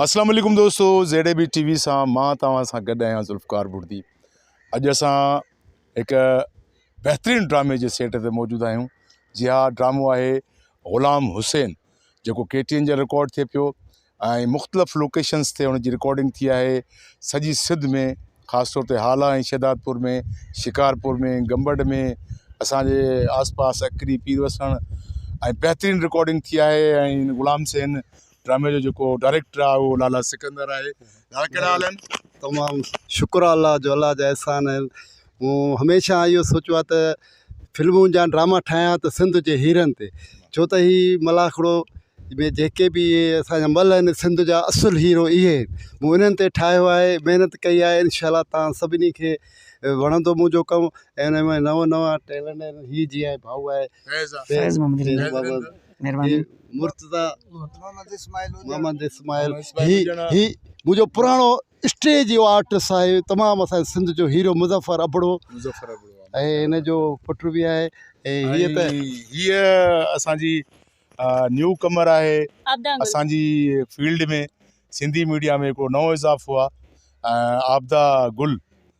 السلام عليڪم دوستو Z A B T V سان مان توهان سان گڏ آهيان ذوالفقار بڙدي اڄ اسان هڪ بهترين ڊرامي جي سيٽ تي موجود آهيون جي ها ڊرامو آهي غلام حسين جيڪو ڪي ٽي اين جي رڪارڊ ٿئي پيو ۽ مختلف لوڪيشنس تي ان جي رڪارڊنگ ٿي آهي سڄي سڌ ۾ خاص طور تي هالا ۽ شهدادپور ۾ شڪارپور ۾ گمبڙ ۾ اسانجي آس پاس اڪري پير وسڻ ۽ بهترين رڪارڊنگ ٿي آهي ۽ غلام حسين ڊرامي جو جيڪو ڊائريڪٽر آ اهو لالا سڪندر آهي لالا ڪهڙا حال آهن تمام شڪر آ الله جو الله جا احسان آهن مون هميشه اهو سوچيو آ ته فلمون جا ڊراما ٺاهيان ته سنڌ جي هيرن تي ڇو ته هي ملاکڙو ۾ جيڪي به اهي اسانجا مل آهن سنڌ جا اصل هيرو اهي آهن مون انهن تي ٺاهيو آهي محنت ڪئي آهي انشاء الله تان سڀني کي وڻندو منهنجو ڪم ۽ ان ۾ نئون نئون ٽيلنٽ آهن هي جيئن ڀائو آهي فيض آ فيض محمد فيض محمد مھرباني. مرتضيٰ محمد اسماعيل هوجا محمد اسماعيل هي هي منهنجو پراڻو اسٽيج جو آرٽس آهي تمام اسان جي سنڌ جو هيرو مظفر ابڙو مظفر ابڙو ۽ هن جو پٽ به آهي ۽ هيء ته هيء اسان جي نيو ڪمر آهي اسان جي فيلڊ ۾ سنڌي ميڊيا ۾ هڪڙو نئون اضافو آهي عابده گل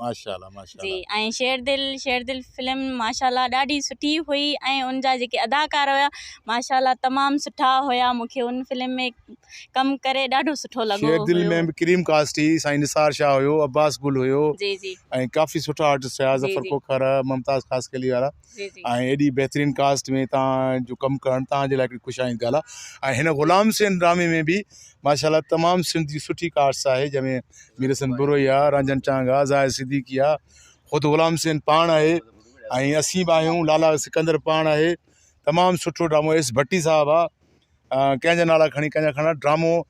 ماشا الله ماشا الله جي ۽ شير دل شير دل فلم ماشا الله ڏاڍي سٺي هئي ۽ ان جا جيڪي اداڪار هيا ماشا الله تمام سٺا هيا مونکي ان فلم ۾ ڪم ڪري ڏاڍو سٺو لڳو شير دل ۾ به ڪريم ڪاسٽي سائين نثار شاهه هيو عباس گل هيو جي جي ۽ ڪافي سٺا آرٽسٽ هيا ظفر کوکر ممتاز خاصخيلي وارا جي جي ۽ ايڏي بهترين ڪاسٽ ۾ تان جو ڪم ڪرڻ تان جي لاء ھڪڙي خوش آئند ڳالھ آ ۽ ھن غلام حسين ڊرامي ۾ به ماشاء الله تمام سنڌ جي سٺي ڪاسٽ آھي جنهن ۾ مير حسن بروھي آ رنجن چانگ آ زاھد صديقي آ خود غلام حسين پاڻ آھي ۽ اسين به آھيون لالا سڪندر پاڻ آھي تمام سٺو ڊرامو ايس ڀٽي صاحب آ ڪنهن جا نالا کڻي ڪنهن جا کڻا ڊرامو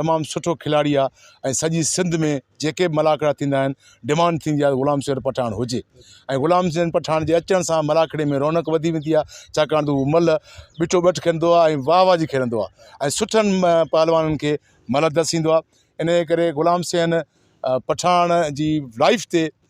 تمام سٺو کلاڙي آ ۽ سڄي سنڌ ۾ جيڪي به ملاکڙا ٿيندا آهن ڊمانڊ ٿيندي آ غلام شهر پٺاڻ هجي ۽ غلام شهر پٺاڻ جي اچڻ سان ملاکڙي ۾ رونق وڌي ويندي آ ڇاڪاڻ ته هو ملهه ٻٺو ٻٺ کيڏندو آ ۽ واهه واهه جي کيڏندو آ ۽ سٺن پهلوانن کي ملهه دسيندو آ انهيء ڪري غلام شهر پٺاڻ جي لائف تي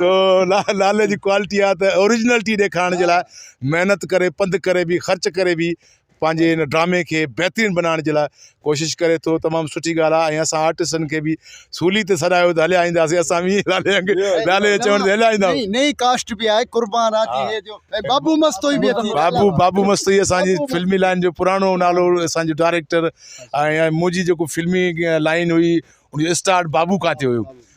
سو نالي جي ڪوالٽي آ ته اوريجنلٽي ڏيکارڻ جي لاء محنت ڪري پنڌ ڪري به خرچ ڪري به پنهنجي ان ڊرامي کي بهترين بنائڻ جي لاء ڪوشش ڪري ٿو تمام سٺي ڳالهه آ ۽ اسان آرٽسٽن کي به سولي تي سڏايو ته هليا اينداسين اسان به نالي انگ نالي جي چوڻ تي هليا ايندا آهيون نئين ڪاسٽ به آهي قربان آ جي هي جو ۽ بابو مستوئي به اٿي بابو بابو مستوئي اسان جي فلمي لائن جو پراڻو نالو اسان جو ڊائريڪٽر ۽ منهنجي جيڪو فلمي لائن هئي ان جو اسٽارٽ بابو کان ٿيو هيو